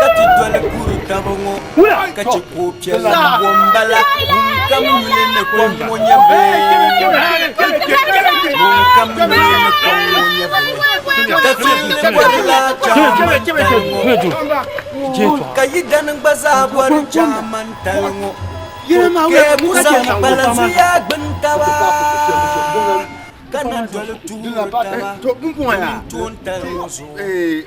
ka ti doli kuri daba ŋɔ ka chɛ ka o piɛlli bo m-bala ŋunkam yuli ni kom ŋɔ nyɛ bee ŋunkam yuli ni kom ŋɔ nyɛ bee ka ti li bɔri la chaamantali ŋɔ ka yidana gba zaa bɔri chaamantali ŋɔ ka ya ku zaŋ pala zuliya gbini taba ka na doli tuuli taba wuntoontali ŋɔ zuɣu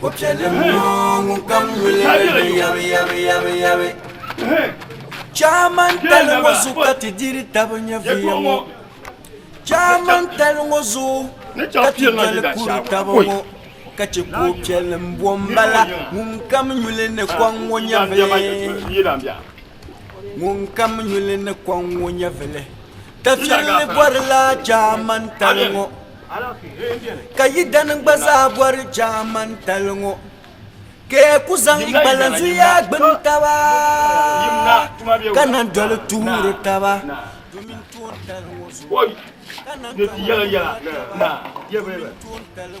Ko'piɛlim ŋɔ ŋunkam yuli li ni yabi yabi yabi yabi Chaamantali ŋɔ zuɣu ka ti diri taba nyɛviya ŋɔ Chaamantali ŋɔ zuɣu ka ti doli kuri taba ŋɔ ka che ko'piɛli m-bo m-bala ŋunkam yuli ni kɔŋ ŋɔ nyɛvili ŋunkam yuli ni kɔŋ ŋɔ nyɛvili Tafiɛlli bɔrila Chaamantali ŋɔ Ka yidana gba zaa bɔri Jaamani tali ŋɔ ka ya ku zaŋ yi kpalansi yaai gbini taba ka na doli tuuri taba domin toon tali ŋɔ zuɣu ka na doli tuuri taba.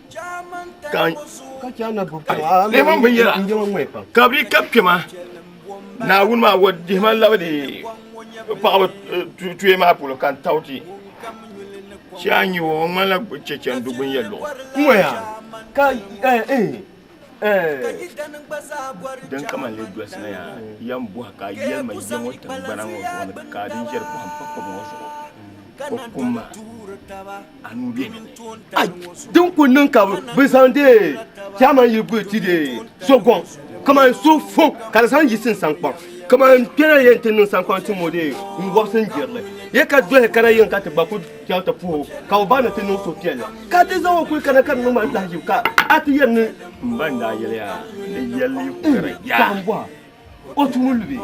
ka nɛma binyɛra ka bi ka kpɛma naawuni maa wa dihima labidi paɣaba tuye maa polo ka n tawuti si a nyi o ŋmanila chɛchɛ n du binyɛ luɣu din kama n lee dolisina yaa yɛn bɔha ka yɛlima yɛ ŋɔ tiŋgbana ŋɔ zuɣu ni ka din ʒɛri pɔhim pa kpɛma ŋɔ zuɣu o kumma anuu bɛ ni ai din ku niŋ ka bi zaŋ dee chairman yi guli ti dee so gɔŋ kamani so fo ka di zaŋ yiɣisi n sankpaŋ kamani kpɛna yɛn ti niŋ sankpaŋ ti mo dee n wɔbisi n jirili yɛ ka dɔhi kana yiŋ ka ti gba ku chaŋ ti puhi o ka o ba ni ti niŋ so piɛlli ka ti zaŋ o kuli kana ka di niŋ mali lahijibu ka a ti yɛri ni n ba n daa yɛliya ni yɛli kukara yaa O tumo lu bɛ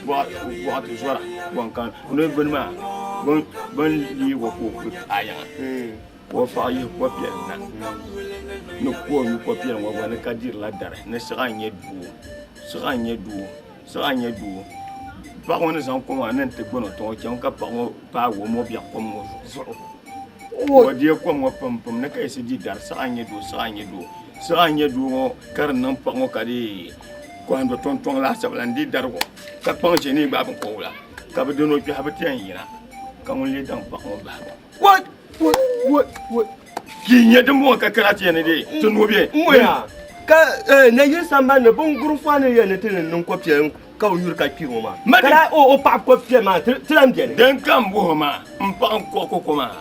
bɔɣati zɔra ban kan noli gbini maa ban lee wa ka o ku taayaŋa ka o paɣa yihi ko piɛli na ni ka o mi ko piɛli ŋɔ gba ni ka dirila dari ni siɣa n-nyɛ doo siɣa n-nyɛ doo siɣa n-nyɛ doo paɣa ŋɔ ni zaŋ ko maa ni n-ti gbuni o tiŋa o chaŋ ka paɣa ŋɔ paagi o mɔbiɛɣu kom ŋɔ zuɣu. O deei kom ŋɔ pam pam ni ka yiɣisi di dari siɣa n-nyɛ doo siɣa n-nyɛ doo siɣa n-nyɛ doo ŋɔ ka di niŋ paɣa ŋɔ ka di kɔhim do tɔŋtɔŋ laasabu la n-di dari ŋɔ ka kpaŋ ʒe ni yi gbaai biŋkɔbigu la ka bɛ dini o kpɛhi bɛ ti yɛn yina ka ŋun lee daŋ paɣa ŋɔ bahigu What? What? What? What? Di n-nyɛ dimbɔŋɔ ka kana ti yɛn ni di ti nɔbiɛ. N-moya ka eh, na yili sambani ni biŋguri fɔha ni yɛn ni ti ni niŋ kɔpiɛlim ka o yuri ka kpi ŋɔ maa ka daa o o paɣa ko piɛ maa ti lan biɛni din ka n buhi maa n paɣa n kɔɣi koko maa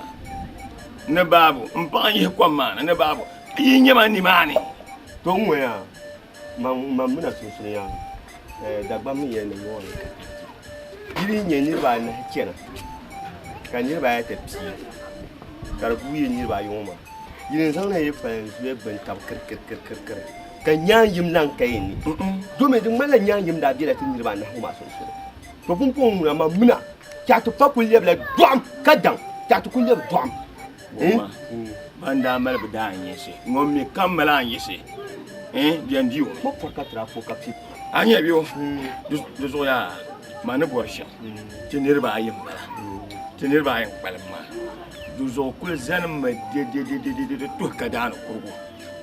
ni baabu n paɣa n yihi kom maa ni ni baabu yi nyɛ ma nimaani to n ŋɔya man mina sunsunya eh, dagbam n yɛn ni ŋɔ yi ni nyɛ niriba anahi chɛna ka niriba ayata pii ka di guui yi niriba ayi ŋɔ maa yili n zaŋ na yi pali n zuya gbuni tabi kirikirikirikiri Ka nyaanyim lan ka yi ni, domin di ŋmanila nyaanyim daa bela ti niriba anahi ŋɔ maa sunsuuni. To pumpɔŋɔ ŋuna man mina, tɛha ti pa kul lɛbila dɔɣim, ka daŋ tɛha ti kul lɛbi dɔɣim. Bɔhima ban daa mali bi daa n-yiɣisi, ŋun mi kam mali an-yiɣisi, bɛn di o. Kpab pɔri ka tiri a pua ka piɛ pua. A nya bɛ o? Di zuɣu yaa ma ni bɔri shɛm, ti niriba ayi m-bala, ti niriba ayi n-kpalim maa. Di zuɣu kul zalimmi dedededede tuhi kadaani kurigu.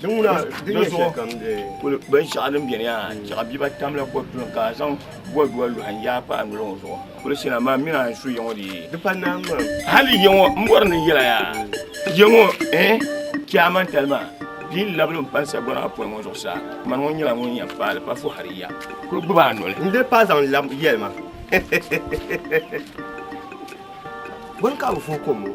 Din ŋuna din nyɛ shɛli kam de. Kuli binshɛɣu din beni yaa chɛɣu biba tam la kɔdu ni ka a zaŋ bɔdua luhi n yaai pa a noli ŋɔ zuɣu. Kuli shina maa mi a ni su yiŋɔ di. Di pa naai n mam. Hali yiŋɔ n bɔri ni n yɛla yaa yiŋɔ eh chɛ a man tali maa di yi labili n pa n sagbana maa pɔi ŋɔ zuɣu saa mani ŋɔ nyɛla ŋun yɛn paai li pa fu hali ya kuli gbubi a noli. N dii paai zaŋ labi yɛli ma. Bɔni ka a bi fuhi kom ŋɔ.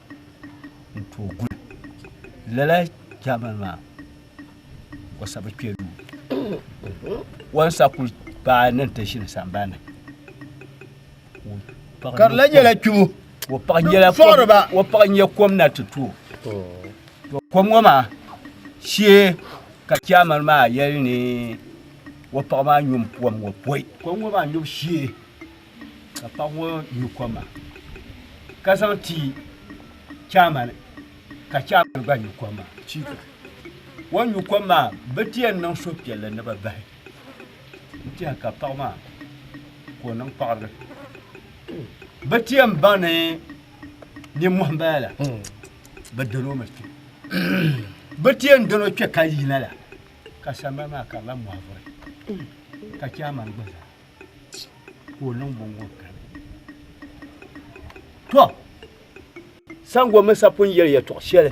n tooi guli lala jaamani maa o sabi kpɛ duu wansa ku paai ni ti ʒini sambani ka di la nyɛla kpibu o paɣa nyɛla fɔɣiriba o paɣa nyɛ kom na ti tooi to kom ŋɔ maa shee ka jaamani maa yɛli ni o paɣa maa nyum puam ŋɔ pɔi kom ŋɔ maa nyubu shee ka paɣ ŋɔ nyu kom maa ka zaŋ ti chairman ka chairman gba nyu kom maa chief o nyu kom maa bɛ ti yɛn niŋ suhupiɛlli ni bɛ bahi n tɛha ka paɣ maa ka o niŋ paɣiri bɛ ti yɛn baŋ ni nimmɔhi m-bala la bɛ dalo mi kpe bɛ ti yɛn dalo kpe ka yina la ka sambani maa ka di lahi mɔhi vuri ka chairman gba zaa ka o niŋ bɔŋɔ tɔ sango mini sapun yɛli yɛtɔɣ shɛli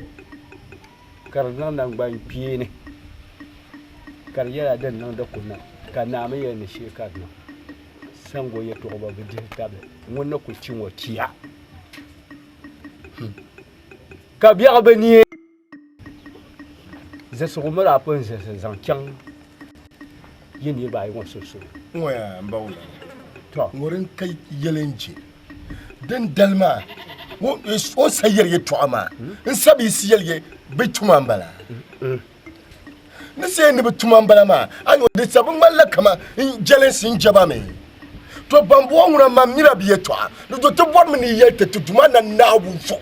ka di niŋ nangbani kpeeni ka di yɛla din niŋdi ku niŋ ka naa mi yɛli ni shee ka di niŋ sango yɛtɔɣ ba bi dihi tabili ŋun ni ku ti ŋɔ tia hmm. ka biɛɣu bi ni Zilsigu mi daa pun zilisi zaŋ chaŋ yi niriba ayi ŋɔ sunsuuni. Ŋɔya m-bawula. Tɔ. Ŋɔri n-ka yɛli n-je. Dindali maa, o sayiri yɛtɔɣa maa n-sabiisi yɛli ye bɛ tuma m-bala. Ni saye ni bɛ tuma m-bala maa, a nya o di sabi ŋmanila kaman n jɛlinsi n-je ba mi. Tɔ bambɔŋɔ ŋuna mam nyila bɛ yɛtɔɣa, di do ti bɔrimi ni yi yɛli ti ti Duuma Naa Naawuni zuɣu.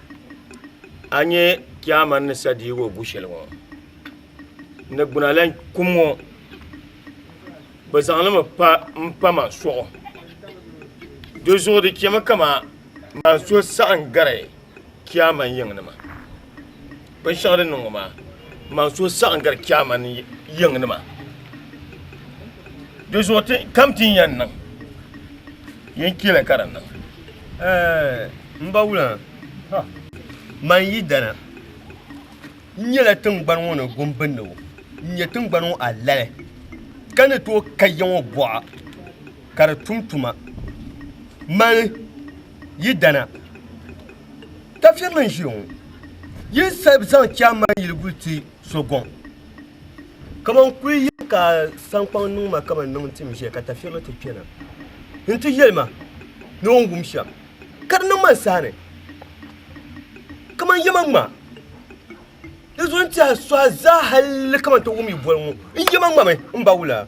a nyɛ kyaama ni sa diigo gu shɛli ŋɔ ni gbuna lan kum ŋɔ bɛ zaŋlimi pa m-pa ma suɣu di zuɣu di chɛmi kama ma so saɣim gari kyaama yiŋnima Binshɛɣu din niŋ ŋɔ maa, man so saɣim gari Chaama ni yiŋnima. Di zuɣu ti kam ti ni yɛn niŋ, yin chɛli ka di niŋ. Ɛɛh! M ba wula! Ha! Man yi dana, n nyɛla tiŋgbani ŋɔ ni gumbindigu, n nyɛ tiŋgbani ŋɔ alali, ka ni tooi ka ya ŋɔ buɣa ka di tum tuma. Mani yi dana! Tafirili n ʒiya ŋɔ yi sabi zaŋ chairman yiliguli ti so gɔŋ kaman kuli yini ka sankpaŋ niŋ ma kaman niŋ tim ʒiya ka tafirili ti kpɛna n ti yɛli ma ni o ni wum shɛm ka di niŋ ma n sahani kaman yɛma ŋma di zuɣu n tiɛha suha zaa hali kaman ti wum yi boli ŋɔ n yɛma ŋmami m ba wula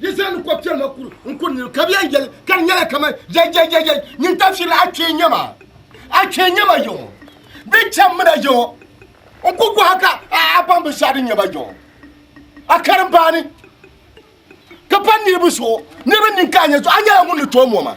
Di zaa ni kɔb kpɛri ma kuri n kuri niriba ka bɛ yan yɛli ka di nyɛla kaman jɛjɛjɛjɛj nyin tafirili a kpee nyɛ ma a kpee nyɛ ma yɔŋɔ bɛ cham mina yɔŋɔ n ku gɔha ka a baŋ binshɛɣu din nyɛ ma yɔŋɔ a karim baani ka pa niriba zuɣu niriba nini ka a nyɛ zuɣu a nyɛla ŋun ni tooi mɔma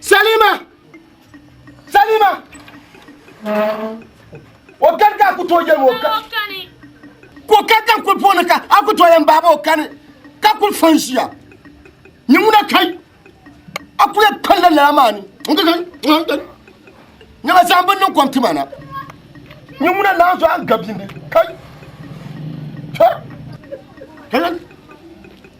Salima! Salima! O kani ka a ku tooi yɛlim o kani. Ka o kani ka n kuli puuni ka a ku tooi yɛlim baaba o kani ka kuli fɔn ʒiya. Ni ŋuna kai a kuli kpalla lala maa ni. Nyɛma zaɣim bin niŋ kom ti ma na. Ni ŋuna naan zuɣu a ni gabindi kai. Kai!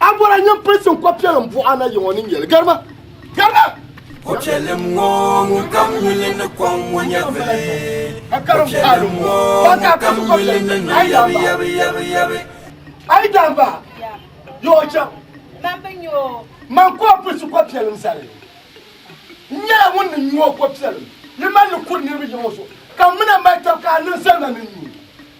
A bɔra nyini pilisim kɔpiɛlim buɣa na yiŋɔ ni nyɛli. Garima! Garima! Kɔpiɛlim ŋɔ ŋun kam yuli ni kom ŋɔ nyɛvili. Kɔpiɛlim ŋɔ ŋun kam yuli ni niŋ yabi yabi yabi yabi. Ayi daa ba yo o chaŋ. Man bi nya o. Man ka o pilisi kɔpiɛlim zali. N nyɛla ŋun ni nyu o kɔpiɛlim. Yi mali li kuri niriba yiŋɔ zuɣu. Ka m mi na mali tab ka a niŋ zali ma ni n nyu.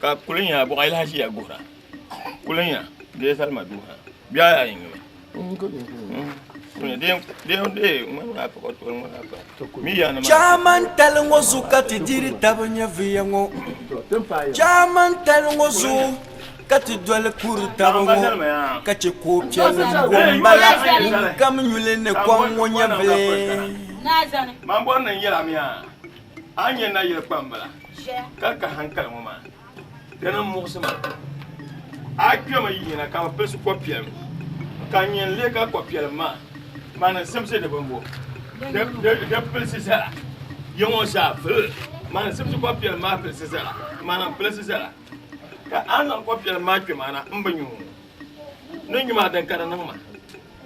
ka kuli nya bɔɣa yi lahi ʒiya guhira kuli nya dee salima duu ha bihi ayi ayi n-nyɛ Chaman tali ŋɔ zu ka ti diri taba nyɛ viya ŋɔ Chaman tali ŋɔ zu ka ti doli kuri taba ŋɔ ka chɛ ka o piɛlli m-bo m-bala ŋunkam nyuli ni kom ŋɔ nyɛ viya A ni nya nayili kpambala ka ka hankali ŋɔ maa, di ni muɣisi ma. A kpɛmi yina ka bɛ pilisi kɔpiɛlim, ka nyin li ka kɔpiɛlim maa maa ni zimsi di bimbu, di pilisi zala ya ŋɔ zaa vili. Maa ni zimsi kɔpiɛlim maa pilisi zala, maa lahi pilisi zala. Ka a ni zaŋ kɔpiɛlim maa kpe maa na, m bi nyu ni nyu maa din ka di niŋ ma.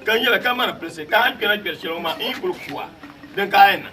Ka nyɛla kamani pilisi ka a ni kpɛna kpɛri shɛli ŋɔ maa n yi kul ku a, din ka a yɛn niŋ.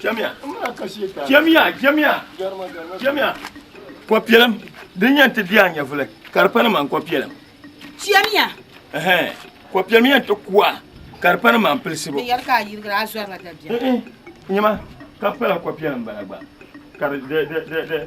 Chamiya, chamiya, chamiya, chamiya. Kɔpiɛlim din yɛn ti di a nyɛvuli ka di pa ni man kɔpiɛlim. Chamiya. Ɛhɛn, kɔpiɛlim yɛn ti ku a ka di pa ni man pilisibu. Di yɛli ka a yirigiri a zɔriba dabiɛm. N-i, nyɛma ka pala kɔpiɛlim bala gba ka di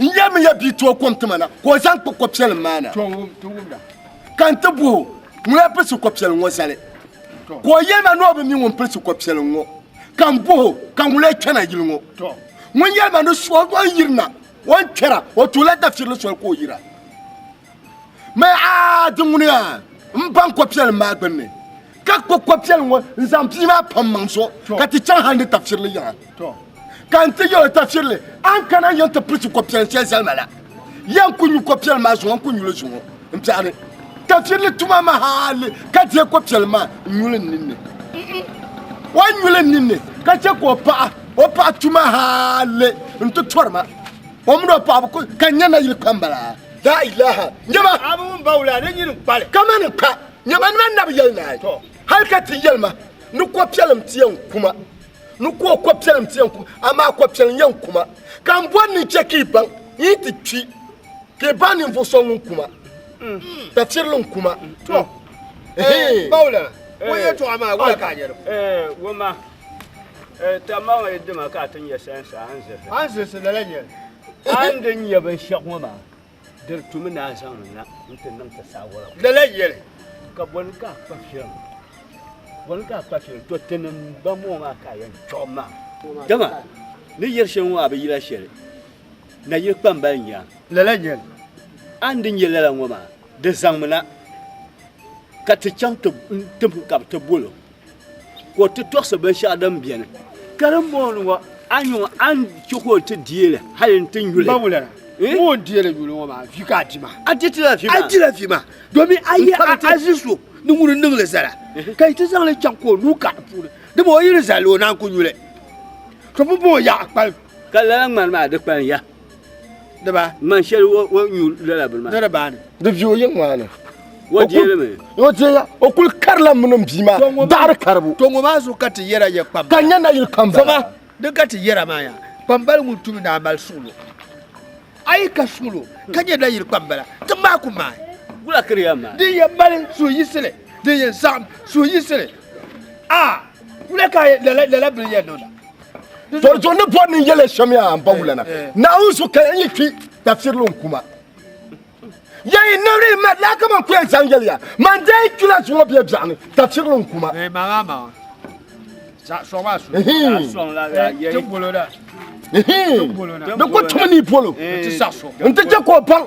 n yɛli mi ya bia tooi kom tima na ka o zaŋ kpa ko piɛlim maa na ka n ti buhi ŋuna pilisi ko piɛlim ŋɔ zali ka o yɛli ma ni o bi mi ŋun pilisi ko piɛlim ŋɔ ka n buhi ka ŋuna chana yili ŋɔ ŋun yɛli ma ni suɣi o ni yirina o ni kpɛra o tuula dafirili soli ka o yira mɛ a di ŋuni yaa n baŋ ko piɛlim maa gbunni Ka kpuɣi ko'piɛli ŋɔ n-zaŋ bia maa pa m-maŋ zuɣu ka ti chaŋ hali ni tafirili yiŋa. Ka n ti yɛl o tafirili, a ni kana n-yɛn ti pirisi ko'piɛli shɛli zali ma la. Yɛn ku nyu ko'piɛli maa zuŋɔ n-ku nyuli zuŋɔ m-piɛɣiri tafirili tuma maa hali ka deei ko'piɛli maa n-nyuli n ninni. O nyuli n ninni ka chɛ ka o paɣa o paɣa tu ma hali n-ti tɔri ma. O mini o paɣa bi ku ka n nya nayili kpamba la. Laa ilaha! Nyama! Abu ŋun ba wula, di nyini n-kpa li. Kamani n kpa! Nyɛma nima nabi yɛli naai, hal ka ti yɛli ma ni kɔpiɛlim ti yɛn kuma, ni ka o kɔpiɛlim ti yɛn kuma, amaa kɔpiɛlim yɛn kuma. Ka m bɔri ni n chɛ ka yi baŋ, n yi ti kpi, ka yi baŋ ninvuɣ so ŋun kuma, tafirili n-kuma. Tɔ! Paula, o yɛtɔɣa maa, wala ka a nyɛ di puuni? Woma, tamaŋa yi di ma ka a ti nyɛ sayansi, a ni zilisi. A ni zilisi lala nyɛli? A ni di nyɛ binshɛɣu ŋɔ maa, Diri tu mi ni a zaŋ na nti niŋ ti saawara. Lala yɛli, Ka bɔni ka a kpa firim? Bɔni ka a kpa firim? Tɔ, ti ni ba mɔɔ maa ka a yɛn chuɣim ma. Dama ni yɛri shɛli ŋɔ a bi yila shɛli, nayili kpambali n-nyɛ a. Lala yɛli, A ni di nyɛ lala ŋɔ maa, di zaŋmi na, ka ti chaŋ ti tibim ka bɛ ti bol o. Ka o ti tɔɣisi binshɛɣu din beni. Ka din bɔŋɔ ni ŋɔ, a nya ŋɔ, a ni chɛ ka o ti deei li hali nti nyu li? Bawu lala, ŋun o ni deei li nyu li ŋɔ maa, vi ka a di maa. A di ti la vi maa? A di la vi maa, domin a yɛl a a zi so ni ŋun ni niŋ li zala, ka yi ti zaŋ li chaŋ ka o nuu kari di puuni, dama o yi ni zali li, o naan ku nyu li. Tɔ bimbɔŋɔ ya a kpalim. Ka lala ŋmani maa di kpalim ya. Diba. Man shɛli o nyu lala bini maa. Dara baani. Di vi o yiŋ maa ni. O deeli mi. O deeya o kuli karila mini n bia maa daɣiri karibu. To ŋɔ maa zuɣu ka ti yɛra ya kpam. Ka n nya nayili kam bala. Zama di ka ti yɛra maa ya kpambali ŋun tum ni a mali suɣulo. A yi ka suɣulo ka nya nayili kpam bala ti maa ku maa. Gula kiri ya maa. Din yɛn mali suhuyisili din yɛn saɣim suhuyisili a wula ka lala bini yɛn niŋda. Dɔri dɔri ni bɔri ni yɛlɛ shɛm yaa n ba wulana. Naawuni so ka n yi kpi tafirili n kuma. Yɛn yi nabiri yi mali laa kaman ku yɛn zaŋ yɛliya man daa yi kpila zuŋɔ bɛ biɛɣu ni tafirili n kuma. Di ku tumi ni bolo n ti chɛ ka o baŋ.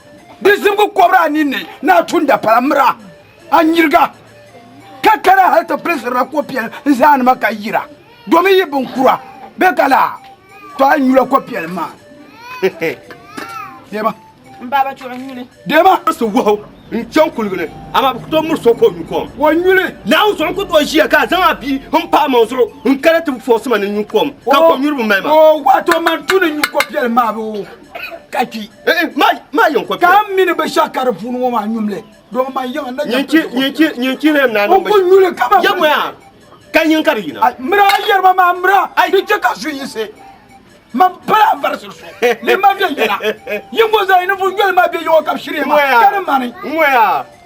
Di zibigi kɔbiri a ninni ni a tum dapala mira a nyiriga, ka kana hal ti pilisirila ko piɛli n zaanima ka yira, domin yi binkura be ka laa tɔ a nyula ko piɛli maa. Deema. M baaba chuɣu n nyuli. Deema. Si wahu n chaŋ kuligi ni, amaa bi ku tooi miri so ka o nyu kom. O nyuli. Naawuni zuɣu n ku tooi ʒiya ka a zaŋ a bia n pahi maŋ zuɣu n kana ti bi fɔɣisi ma ni n nyu kom, ka kom nyuribi mali ma. Oo, wato man tu ni nyu ko piɛli maa bee? ka kpi eh, eh, maa yɛn kɔpi ka n mini bi shɛba ka di puuni ŋɔ maa nyumli domi man yiŋa na nyin kpi lɛm na niŋ bi nyuli ka ma yɛmɔya ka nyin ka di yina mira yɛrima maa mira di chɛ ka su yinsi man pala n varisi su ni ma bɛ yɛla yingo zaa yi ni vu yɛli maa bɛ yɛŋɔ ka bi shiri yɛŋa ka ni mani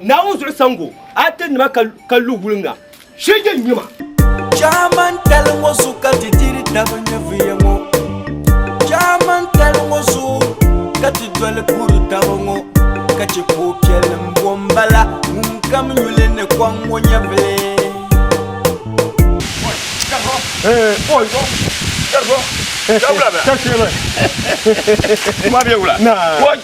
Naawuni zuɣu sango ate nima ka lu wulinga shege nyima. Chaman tali ŋɔ zuɣu ka ti diri tabi nyɛviya ŋɔ. Chaman tali ŋɔ zuɣu ka ti doli puri tabi ŋɔ ka che puhi piɛlli m bo m bala ŋun kam nyuli ni kɔŋ ŋɔ nyɛvili. Boy,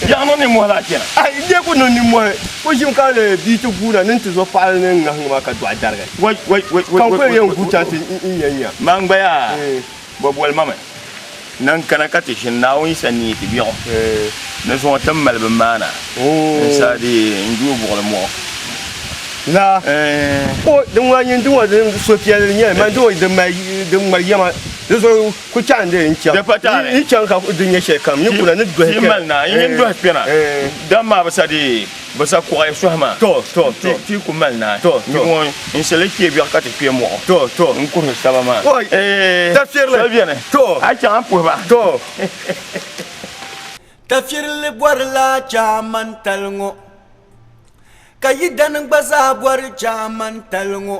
Yaɣi no nimmɔhi lahi chana. A yi lee ku niŋ nimmɔhi, ku ʒim ka lee bia ti guuna ni n-ti zo paɣili ni n-ŋahiŋ ma ka dɔɣi darigi. Ka n ku lee yɛn gu chaŋ ti n ya nya. Man gba yaa, bɛ boli ma mi ni n kana ka ti ʒini Naawuni Yisa ni yi ti biɛɣu ni zuŋɔ ti mali bɛ maana n sa di n juui buɣili muɣu. Naa, o, din ŋuna n-nyɛ n diŋɔ di so piɛlli n-nyɛli, mani diŋɔ din mali, din ŋmari yɛma di zuɣu. Ku chaŋ di n chaŋ. Di pa taali. Yi chaŋ ka di nyɛ shɛli kam ninkura ni dɔhi kpɛna. Ti mali naa yin dɔhi kpɛna. Dam maa bi sa di bi sa kuɣi suhi maa. Tɔ tɔ tɔ. Ti ku mali naa. Tɔ tɔ. Nyuɣu ŋɔ n sili kpɛ biɛɣu ka ti kpɛ mɔɣu. Tɔ tɔ. N kuhi saba maa. Oi tafirili. Soli bɛni. Tɔ. A chaŋ a puhi ba. Tɔ. Tafirili bɔri la chaamantali ŋɔ. Ka yidana gba zaa bɔri chaamantali ŋɔ.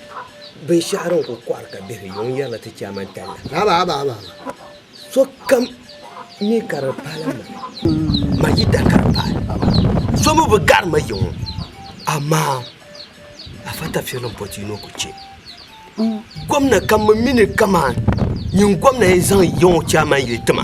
Binshɛɣu din kuli kɔɣiri ka bihi yuŋ yɛrila ti Chairman Talla. Sokam mi ka di paala ma, ma yidana ka di paali. So mi bi gari ma yiŋɔ amaa Afa Tafsir ni pɔchi ni o ku chɛ gomna ka mi mi ni kaman nyin gomna yɛn zaŋ yiŋɔ Chairman yili ti ma.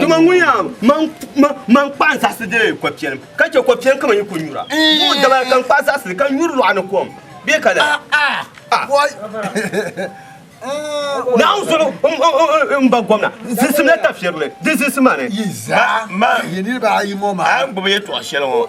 Dama ŋun ya man kpaɣi zaɣisi di kɔpiɛlim, ka chɛ kɔpiɛlim kama yi ku nyura. Buɣi dabali ka n kpaɣi zaɣisi ka nyuri lɔɣu ni kom. Bee ka lala? Naawuni soli m ba gomna zilimsila tafirili di zilisi mani. Yi zaa maa yi niriba ayi ŋɔ maa. A gbubi yɛtɔɣ shɛli ŋɔ.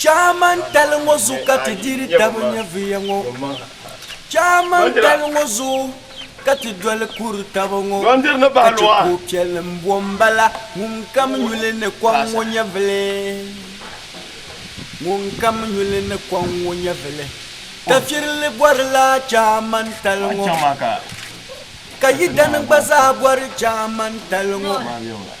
Chaamantali ŋɔ zuɣu ka ti diri taba nyɛviya ŋɔ. Chaamantali ŋɔ zuɣu ka ti doli kuri taba ŋɔ ka chɛ ka o piɛli m-bo m-bala. Ŋunkam nyuli ni kɔŋ ŋɔ nyɛvili, ŋunkam nyuli ni kɔŋ ŋɔ nyɛvili. Tafirili bɔrila Chaamantali ŋɔ, ka Yidani gba zaa bɔri Chaamantali ŋɔ.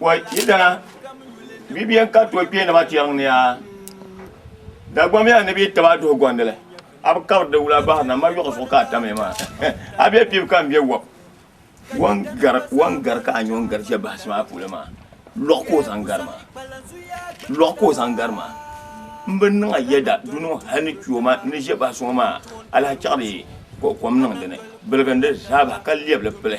Wa ita bibiyan ka to kpe nima tiɛŋ ni a dagbam ya ni bi taba duhi gɔndili a bi kabiri di wula bahiri na ma yɔɣu zuɣu ka a tamya maa a bɛ pibu ka n bɛ wɔb wan gari wan gari ka a nyɛ ŋun gari ʒɛ bahisi maa puuni maa lɔɣu ka o zaŋ gari maa lɔɣu ka o zaŋ gari maa n bi niŋ a yɛda du niŋ hali ni kpɛ o ma ni ʒɛ bahisi ŋɔ maa alahi chaɣiri kom niŋ dini biligindi zaa bahi ka lɛbili pili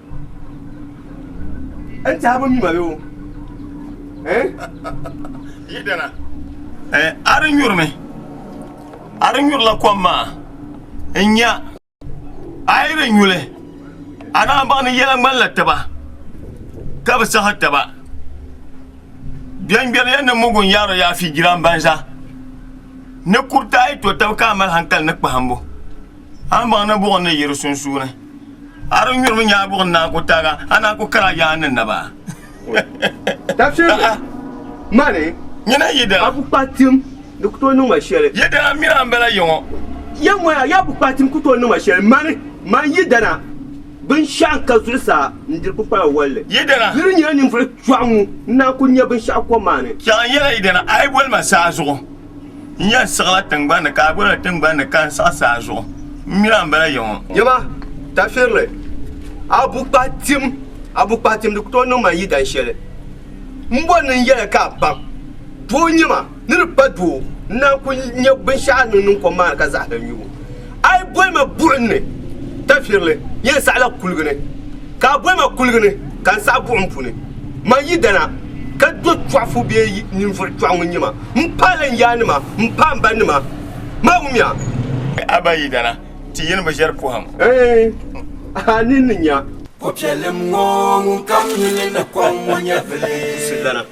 N tiɛhi bi mi ma bɛ o. Yi dana. A di nyuri mi. A di nyurila kom maa n nya. A yi di nyuli a daa baŋ ni yɛla ŋmanila taba ka bi saha taba. Biɛŋgbɛri yɛn ni mugu n yaari o yaafi jiran banza. Ni kuriti a yi to taba ka a mali hankali ni kpahimbu a ni baŋ ni buɣim ni yi di sunsuuni. A di nyurimi nyaa buɣi naa ku taaga, a naa ku kara yaa ni naba. Tafsiri mali a bu kpahi tim di ku tooi niŋ ma shɛli. Yidana mira m-bala yiŋɔ. Yɛm ŋɔya yaa bu kpahi tim ku tooi niŋ ma shɛli, mani, man Yidana, binshɛɣu n-ka zuɣusaa n-diri kpukpala walli. Yidana! Di ni nyɛla ninvuɣ chɔɣu ŋu n-naan ku nya binshɛɣu kom maa ni. Chɛɣu n-yɛla Yidana, a yi boli ma saazuɣu. N yɛn siɣila tiŋgbani ni ka a gba na tiŋgbani ni ka n siɣi saa zuɣu. M mini a m-bala ya ŋɔ. Yaba, tafirili, a bukpahitiɛm, a bukpahitiɛm di ku tooi niŋ ma yi dan shɛli. M bɔri ni n yɛli ka a baŋ, doo n-nyɛ ma, ni di pa doo, n naan ku nya binshɛɣu a ni niŋ kom maa ni ka zahara nyubu. A yi boli ma buɣim ni tafirili, yen saɣila kuligi ni, ka a boli ma kuligi ni ka n saɣi buɣim puuni. Man yidana, ka do chɔɣifu bee ninvuɣ chɔɣu ŋun nya ma, m paali n yaannima, m paai m banima, maa wumiya. A ba yidana, ti yini bi ʒiɛri pɔhim. Ɛɛn, a ninni nya. Ko piɛlim ŋɔ ŋun kam nyuli ni kom ŋɔ nyɛvili. Silana.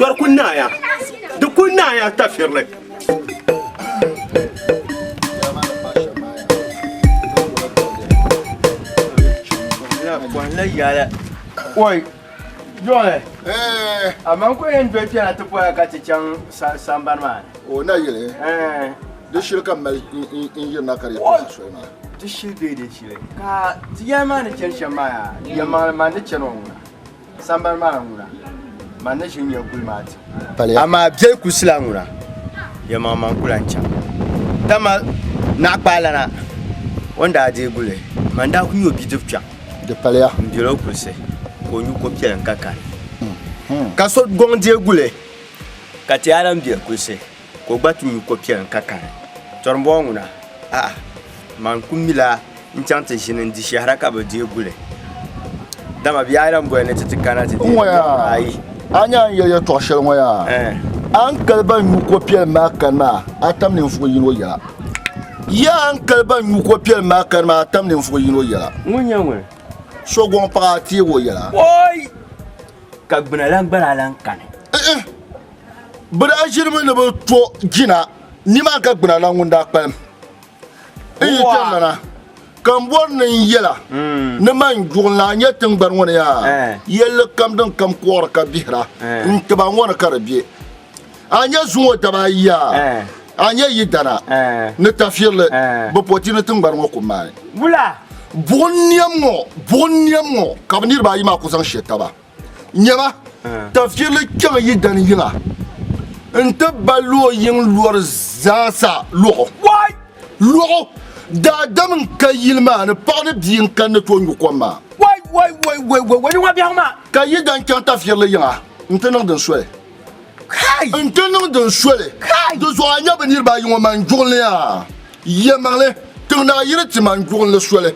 Yɔri ku naaya, di ku naaya tafirili. Oi, Yɔri, amaa n ku yɛn doli kpɛna ti bɔra ka ti chaŋ sambani maa ni. O na yili, di shili ka mali n yirina ka di yɛn kpɛna soli maa. Di shili bee di shili ka ti yɛli maa ni chani shɛm maa yaa, yɛlimaŋli maa ni chani o ŋuna. Sambani maa ŋuna, man ni ʒin ya guli maa ti. Amaa biɛli kusila ŋuna, yɛlimaŋli man ku lan chaŋ. Dama naɣikpaalana o ni daa deei guli, man daa ku nya o bidib kpiɔŋ m-bel o kulisi ka o nyu ko piɛlim ka kani. Ka so gɔŋ deei guli, ka ti yaa lan bel kulisi. Ka o gba ti nyu ko piɛli n-ka kani. Tɔrimbɔɔ ŋuna, a'a, man ku mila n-chaŋ ti ʒini n-di shɛhira ka bɛ deei guli. Dama bɛ yaa lan boli ni ti ti kana ti deei guli o? Ayi! A ni a ni yɛli yɛtɔɣ shɛli ŋɔ yaa, a ni kali ban nyu ko piɛlim maa kani maa, a tam ninvuɣ yini o yɛla. Yaa! A ni kali ban nyu ko piɛlim maa kani maa, a tam ninvuɣ yini o yɛla. Ŋun nyɛ ŋun? So gɔŋ paɣa a teeg o yɛla. Oi! Ka gbuna lan gba daa lan kani. Ɛɛh! Bɛ daa ʒirimi ni bɛ to jina nima ka gbina na ŋun daa kpalim. N yi kpe lana ka m bɔri ni n yɛla hmm. ni man juɣil naa nyɛ tiŋgbani ŋɔ ni yaa eh. yɛlli kam din kam kɔɣiri ka bihira eh. n tiba ŋɔ ni ka di be. A nyɛ zuŋɔ daba ayi yaa eh. a nyɛ yi dana ni tafirili bɛ pɔti ni tiŋgbani ŋɔ ku maai. Buɣim niɛm ŋɔ ka bɛ niriba ayi maa ku zaŋ she taba. Nyɛba, tafirili kpɛŋ yi dani yila nti ba luɣ yiŋ lɔr zaasa luɣu. Luɣu daadam n-ka yili maa ni paɣ ni bia n-kani ni tooi nyu kom maa. Ka yi dan chaŋ tafirili yiŋa nti niŋ din soli. n ti niŋ din soli di zuɣu a nya bi niriba ayi ŋɔ man juɣinli a yɛmaŋli tiŋ naa yiri ti man juɣinli soli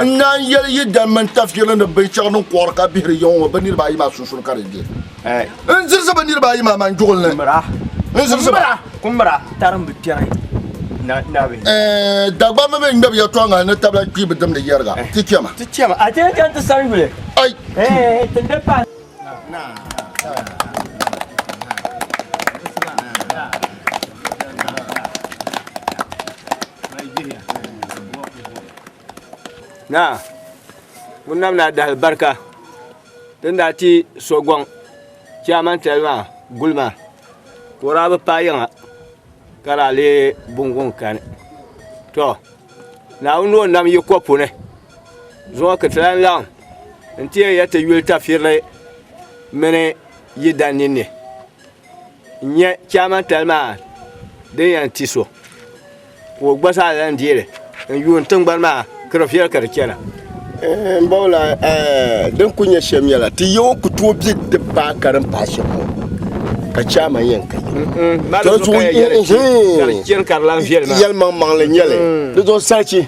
n naan yɛli yi dan mini tafirili ni binshɛɣu din kɔɣiri ka bihiri yiŋɔ ŋɔ bi niriba ayi maa sunsuuni ka di be n zirisi bi niriba ayi maa man juɣinli n zirisi ba kumbira tarim bi kpɛri Dagbamba mii ŋmɛbu yɛltɔɣa ŋɔ ni tabila kpiibu dimdi yɛriga ti chɛma a ti ni chɛni ti sani yuli Naa, ŋuni nam daa di alibarika din daa ti sogɔŋ chairman tali maa gulima ka o daa bi paai yiŋa ka daa leei bini ŋuni kani. To Naawuni ni o nam yi kopu ni. Zuŋɔ ka ti lan laɣim nti yɛn yɛli ti yuli tafirili mini yi dan ninni n-nyɛ chaamantali maa din yɛn ti so ka o gba zaa lan deei li n-yuun tiŋgbani maa ka di viɛli ka di chana. Eeh m bawla eeh din kuli nyɛ shem nyɛla ti yaw ku tooi be di paai ka din paai shem ŋɔ ka chaama yen ka yeli to zuɣu eeh yelmaŋmaŋli nyɛli di zuɣu sachi.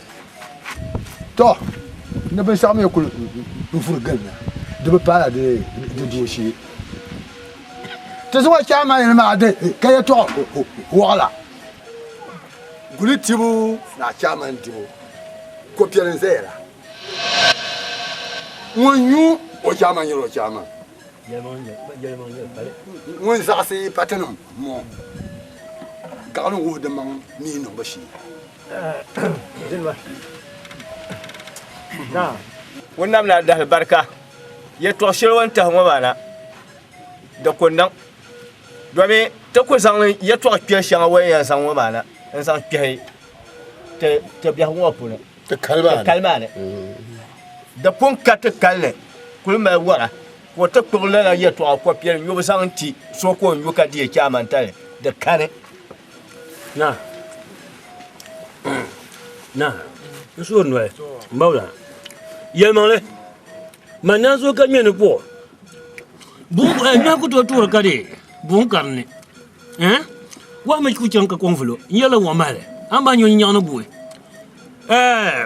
To, ni binshɛɣu mi kul vuri gilina, di bi paala di duubu shee. Ti zaŋ o chaai Maayili maa di ka yɛtɔɣ wɔɣila. Guli tibu naa chaamani dibu ko piɛli n-zaya la. Ŋun nyu o chaamani nyɛla o chaamani. Ŋun zaɣisi patinim ŋɔ gaɣili ŋ-wuhi dimaŋ mi niŋbu shee. Ŋun nam la dahili barika yɛtɔɣ shɛli o ni tahi ŋɔ maa na di ku niŋ domi ti ku zaŋ yɛtɔɣ kpɛli shɛŋa o ni yɛn zaŋ ŋɔ maa na n zaŋ kpɛhi ti biɛhigu ŋɔ puuni ti kali maa ni di pun ka ti kali ni kuli mali wara ka o ti kpuɣi lala yɛtɔɣa kɔpiɛli nyubu zaŋ ti so ka o nyu ka di yɛ chɛ a mantali di kani Na, na, n su o noli, n ba wula. Yɛlimaŋli, man naan so ka ŋmɛ ni kpuɣu. Buŋ eh, nyɔhi ku tooi tuɣiri ka di buŋ karini. Eh? Wahi mi ku chaŋ ka kɔŋ vuli o. N yɛlila wahi mahili. A ni ba nyo nyin nyaɣi ni guui. Eh,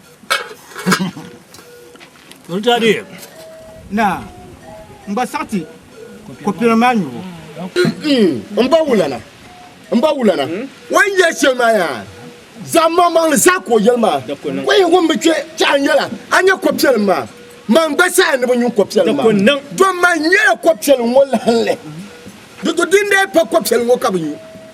Naa, m ba saɣiti kopina maa nyubu. M ba wulana, m ba wulana, o yi yɛli shɛli maa yaa, zaɣ maŋmaŋli zaa ka o yɛli maa. O yi wummi kpe chɛ a nyɛla, a nya kopiɛlim maa. Man gba saha ni bi nyu kopiɛlim maa, dom man nyɛla kopiɛlim ŋɔ lahinli. Di to dindee pa kopiɛlim ŋɔ ka bi nyu.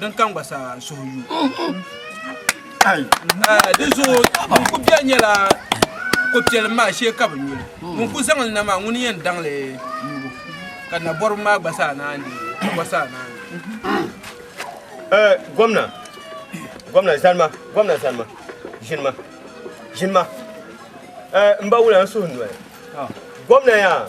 Din kam gba saa suhu yu. Di zuɣu ŋun ku bɛ nyɛla ko piɛlim maa shee ka bi nyuli. Ŋun ku zaŋli na maa ŋuni yɛn daŋli yubu ka nabɔribi maa gba saa naan di ka gba saa naan di. Gomna gomna zanima gomna zanima ʒinima ʒinima n ba wula n suhu noli gomna yaa.